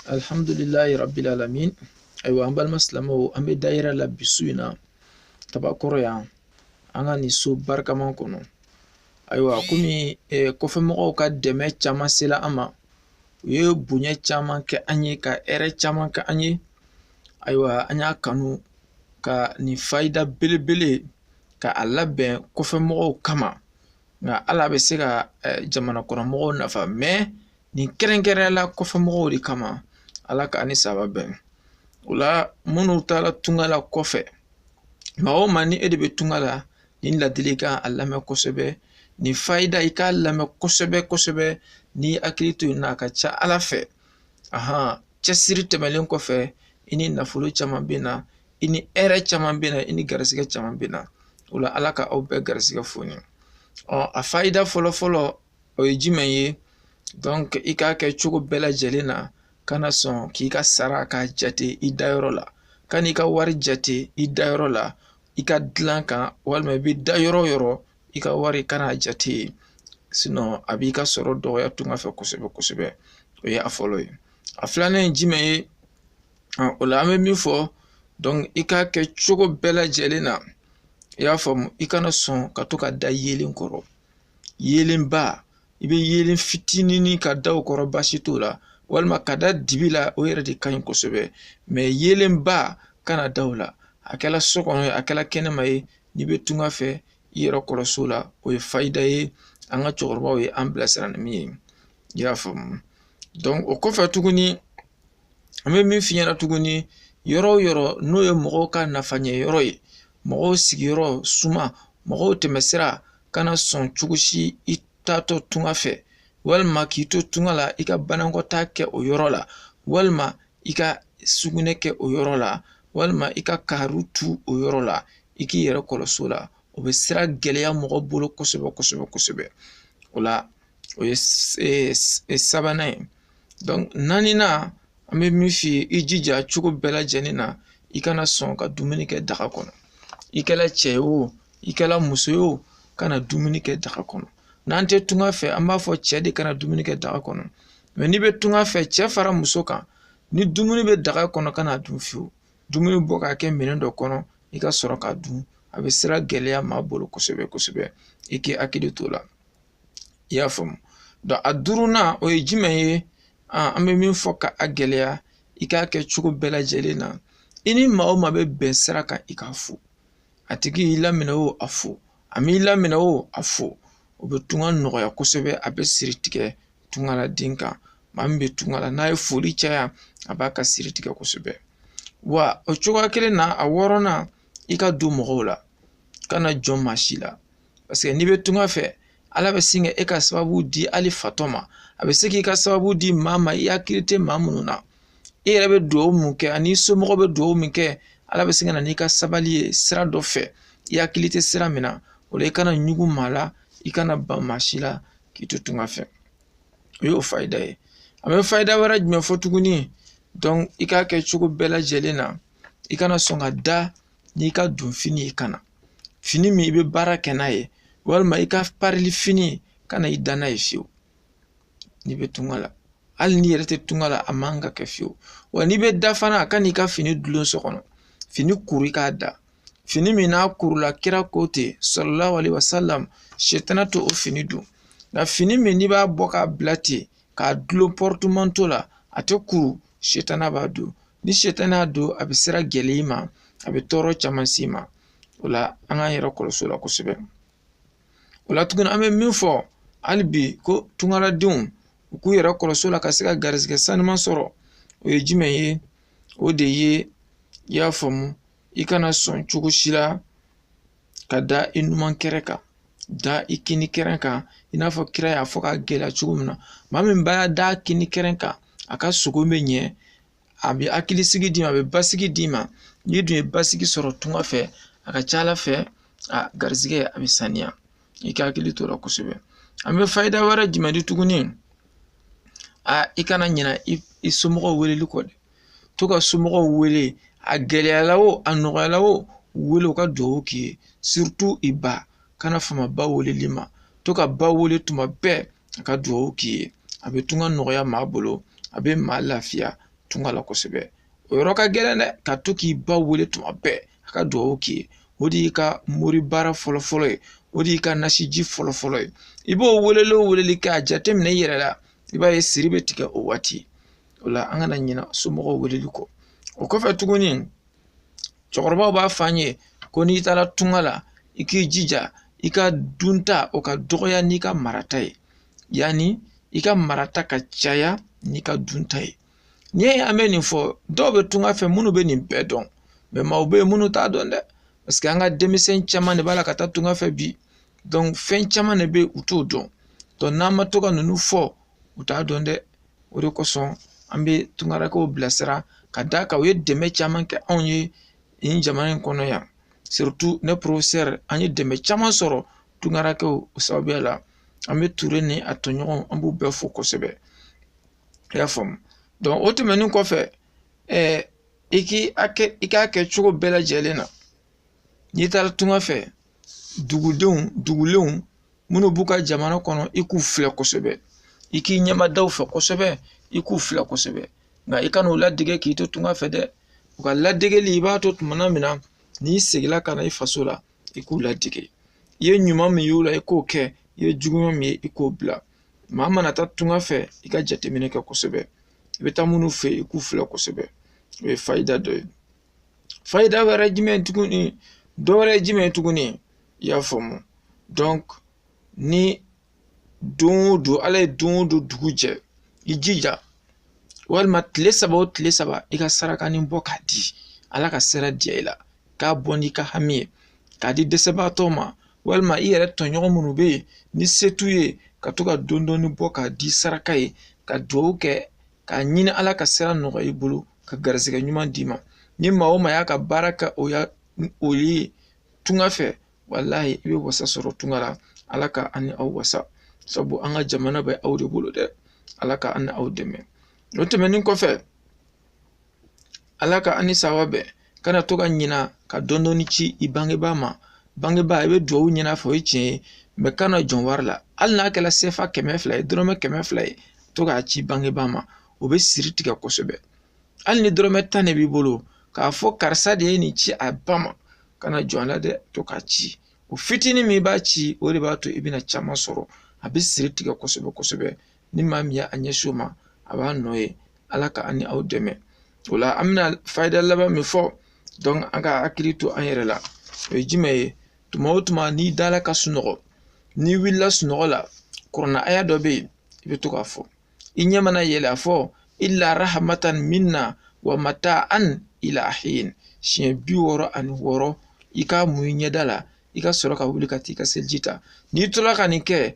alhamdulilayi rabbil alamin ayiwa an balima silamɛw an bɛ dayira la bi su in na tabakɔrɔ yan an ka nin so barikama kɔnɔ ayiwa komi eh, kɔfɛmɔgɔw ka dɛmɛ caman sela an ma u ye bonya caman kɛ an ye ka hɛrɛ caman kɛ an ye ayiwa an y'a kanu ka nin fayida belebele ka a labɛn kɔfɛmɔgɔw kama nka ala bɛ se ka eh, jamana kɔnɔmɔgɔw nafa mɛ nin kɛrɛnkɛrɛnya la kɔfɛ mɔgɔw de kama ala ka a ni saba bɛn o la minnu taara tunga la kɔfɛ maa o maa ni e de bɛ tunga la nin ladili kan a lamɛn kosɛbɛ nin fayida i k'a lamɛn kosɛbɛ kosɛbɛ n'i y'i hakili to nin na a ka ca ala fɛ ahan cɛsiri tɛmɛlen kɔfɛ i ni nafolo caman bɛ na i ni hɛrɛ caman bɛ na i ni garisigɛ caman bɛ na o la ala ka aw bɛɛ garisigɛ foni ɔ a fayida fɔlɔfɔlɔ o ye jumɛn ye donc i k'a kɛ cogo bɛɛ lajɛlen na kana sɔn k'i ka sara k'a jate i dayɔrɔ la kan'i ka wari jate i dayɔrɔ la i ka dilan kan walima i bɛ da yɔrɔ o yɔrɔ i ka wari kana a jate yen sinɔn a b'i ka sɔrɔ dɔgɔya tunga fɛ kosɛbɛ kosɛbɛ o ye a fɔlɔ ye a filanan ye jumɛn ye o la an bɛ min fɔ donc i k'a kɛ cogo bɛɛ lajɛlen na i y'a faamu i kana sɔn ka to ka da yeelen kɔrɔ yeelenba i bɛ yeelen fitinini ka da o kɔrɔ baasi t'o la walima ka da dibi la o yɛrɛ de ka ɲi kosɛbɛ mɛ yeelenba kana da o la a kɛla so kɔnɔ ye a kɛla kɛnɛma ye n'i bɛ tunga fɛ i yɛrɛ kɔlɔsi o la o ye fayida ye an ka cɛkɔrɔbaw ye an bilasira ni min ye i y'a faamu o kɔfɛ tuguni an bɛ min f'i ɲɛna tuguni yɔrɔ o yɔrɔ n'o ye mɔgɔw ka nafa ɲɛ yɔrɔ ye mɔgɔw sigiyɔrɔ suma mɔgɔw tɛmɛsira kana sɔn cogo si i taatɔ tunga fɛ walima k'i to tunga la i ka banakɔtaa kɛ o yɔrɔ la walima i ka sugunɛ kɛ o yɔrɔ la walima i ka kaari tu o yɔrɔ la i k'i yɛrɛ kɔlɔsi o la o bɛ sira gɛlɛya mɔgɔ bolo kosɛbɛ kosɛbɛ kosɛbɛ o la o ye sabanan ye naaninan an bɛ min f'i ye i jija cogo bɛɛ lajɛlen na i kana sɔn ka dumuni kɛ daga kɔnɔ i kɛla cɛ ye o i kɛla muso ye o kana dumuni kɛ daga kɔnɔ n'an tɛ tunga fɛ an b'a fɔ cɛ de kana dumuni kɛ daga kɔnɔ mɛ n'i bɛ tunga fɛ cɛ fara muso kan ni dumuni bɛ daga kɔnɔ kana a dun fiyewu dumuni bɔ k'a kɛ minɛn dɔ kɔnɔ i ka sɔrɔ k'a dun a bɛ sira gɛlɛya maa bolo kosɛbɛ kosɛbɛ i k'i hakili to o la i y'a faamu donc a duurunan o ye jumɛn ye an bɛ min fɔ k'a gɛlɛya i k'a kɛ cogo bɛɛ lajɛlen na i ni maa o maa bɛ bɛn sira kan i k'a fo a tigi y'i laminɛ o a fo a m'i laminɛ o a fo o bɛ tunga nɔgɔya kosɛbɛ a bɛ siri tigɛ tungaladen kan maa min bɛ tunga la n'a ye foli caya a b'a ka siri tigɛ kosɛbɛ wa o cogoya kelen na a wɔɔrɔnan i ka don mɔgɔw la kana jɔn maa si la paseke n'i bɛ tunga fɛ ala bɛ sin ka e ka sababu di hali fatɔ ma a bɛ se k'i ka sababu di maa ma i hakili tɛ maa minnu na e yɛrɛ bɛ dugawu min kɛ ani somɔgɔ bɛ dugawu min kɛ ala bɛ sin ka na n'i ka sababu ye sira dɔ fɛ i hakili tɛ sira min na o la i kana ɲugu maa la i kana ban maa si la k'i to tunga fɛ o y'o fayida ye an bɛ fayida wɛrɛ jumɛn fɔ tuguni i k'a kɛ cogo bɛɛ lajɛlen na i kana sɔn ka da n'i ka donfini ye kana fini min i bɛ baara kɛ n'a ye walima i ka parili fini kana i da n'a ye fewu n'i bɛ tunga la hali n'i yɛrɛ tɛ tunga la a man ka kɛ fewu wa n'i bɛ da fana kana i ka fini dulon so kɔnɔ fini kuru i k'a da fini min n'a kurula kira ko ten sallallahu alaihi wasallam shetana t'o fini don nka fini min n'i b'a bɔ k'a bila ten k'a dulon pɔrɔtumanto la a tɛ kuru setana b'a don ni setana y'a don a bɛ sira gɛlɛya i ma a bɛ tɔɔrɔ caman s'i ma o la an k'an yɛrɛ kɔlɔsi o la kosɛbɛ o la tuguni an bɛ min fɔ hali bi ko tungaladenw u k'u yɛrɛ kɔlɔsi o la ka se ka garizigɛ sanuma sɔrɔ o ye jumɛn ye o de ye i y'a faamu i kana sɔn cogo si la ka da i numan kɛrɛ kan da i kini kɛrɛn kan i n'a fɔ kira y'a fɔ k'a gɛlɛya cogo min na maa min b'a da a kini kɛrɛn kan a ka sogo bɛ ɲɛ a bɛ hakilisigi d'i ma a bɛ basigi d'i ma n'i dun ye basigi sɔrɔ tunga fɛ a ka c'a la fɛ a garizigɛ a bɛ saniya i ka hakili to o la kosɛbɛ an bɛ fayida wɛrɛ jumɛn di tuguni a i kana ɲina i somɔgɔw weleli kɔ dɛ to ka somɔgɔw wele a gɛlɛyala o a nɔgɔyala o wele u ka dugawu k'i ye surtout i ba kana fama ba weleli ma to ka ba wele tuma bɛɛ a ka dugawu k'i ye a bɛ tunga nɔgɔya maa bolo a bɛ maa lafiya tunga la kosɛbɛ o yɔrɔ ka gɛlɛn dɛ ka to k'i ba wele tuma bɛɛ a ka dugawu k'i ye o de y'i ka mori baara fɔlɔfɔlɔ ye o de y'i ka nasiji fɔlɔfɔlɔ ye i b'o weleli o weleli kɛ a jateminɛ i yɛrɛ la i b'a ye siri bɛ tigɛ o waati o la an kana ɲina somɔgɔw weleli kɔ o kɔfɛ tuguni cɛkɔrɔbaw b'a fɔ an ye ko n'i taara tunga la i k'i jija i ka dunta o ka dɔgɔya n'i ka marata ye yanni i ka marata ka caya n'i ka dunta ye n'i ye an bɛ nin fɔ dɔw bɛ tunga fɛ minnu bɛ nin bɛɛ dɔn mais maaw bɛ yen minnu t'a dɔn dɛ parce que an ka denmisɛn caman de b'a la ka taa tunga fɛ bi donc fɛn caman de bɛ u t'o dɔn n'an ma to ka ninnu fɔ u t'a dɔn dɛ o de kosɔn an bɛ tungarankɛw bilasira ka d'a kan u ye dɛmɛ caman kɛ anw ye nin jamana in kɔnɔ yan surtout ne professeur an ye dɛmɛ caman sɔrɔ tungarankɛw sababuya la an bɛ ture ni a tɔɲɔgɔnw an b'u bɛɛ fo kosɛbɛ i y'a faamu donc o tɛmɛnen kɔfɛ ɛɛ i k'i i k'a kɛ cogo bɛɛ lajɛlen na n'i taara tunga fɛ dugudenw dugulenw minnu b'u ka jamana kɔnɔ i k'u filɛ kosɛbɛ i k'i ɲɛ mada u fɛ kosɛbɛ i k'u filɛ kosɛbɛ nka i kan'u ladege k'i to tunga fɛ dɛ u ka ladegeli i b'a to tumana min na n'i seginna ka na i faso la i k'u ladege i ye ɲuman min y'u la i k'o kɛ i ye juguman min ye i k'o bila maa mana taa tunga fɛ i ka jateminɛ kɛ kosɛbɛ i bɛ taa minnu fɛ i k'u filɛ kosɛbɛ o ye fayida dɔ ye fayida wɛrɛ jumɛn tuguni dɔwɛrɛ jumɛn ye tuguni i y'a faamu donc ni don o don ala ye don o don dugu jɛ i jija walima tile saba o tile saba i ka sarakanin bɔ k'a di ala ka sira diya i la k'a bɔ n'i ka hami ye k'a di dɛsɛbaatɔ ma walima i yɛrɛ tɔɲɔgɔn minnu bɛ yen ni se t'u ye ka to ka dɔɔni dɔɔni bɔ k'a di saraka ye ka dugawu kɛ k'a ɲini ala ka sira nɔgɔya i bolo ka garisɛgɛ ɲuman d'i ma ni maa o maa y'a ka baara kɛ o ya o ye tunga fɛ walahi i bɛ wasa sɔrɔ tunga la ala ka an ni aw wasa sabu an ka jamana bɛ aw de bolo dɛ ala ka an ni aw dɛmɛ o tɛmɛnen kɔfɛ ala ka ani sawa bɛ kana to ka ɲina ka dɔɔni dɔɔni ci i bangebaa ma bangebaa i bɛ dugawu ɲini a fɛ o ye tiɲɛ ye mais kana jɔn wari la hali n'a kɛra sefa kɛmɛ fila ye dɔrɔmɛ kɛmɛ fila ye to k'a ci bangebaa ma o bɛ siri tigɛ kosɛbɛ hali ni dɔrɔmɛ tan de b'i bolo k'a fɔ karisa de ye nin ci a ba ma kana jɔn la dɛ to k'a ci o fitinin min b'a ci o de b'a to i bɛna caman sɔrɔ a bɛ siri tigɛ kosɛbɛ kosɛbɛ ni maa min ye a ɲɛsin o ma a b'a nɔ ye ala ka an ni aw dɛmɛ o la an bɛna fayida laban min fɔ donc an k'an hakili to an yɛrɛ la o ye jumɛn ye tuma o tuma n'i dala ka sunɔgɔ n'i wulila sunɔgɔ la kurana aya dɔ bɛ yen i bɛ to k'a fɔ i ɲɛ mana yɛlɛ a fɔ illa rahmatan minna wa mata'an ila hin siɲɛ bi wɔɔrɔ ani wɔɔrɔ i k'a mun i ɲɛda la i ka sɔrɔ ka wuli ka t'i ka seliji ta n'i tora ka nin kɛ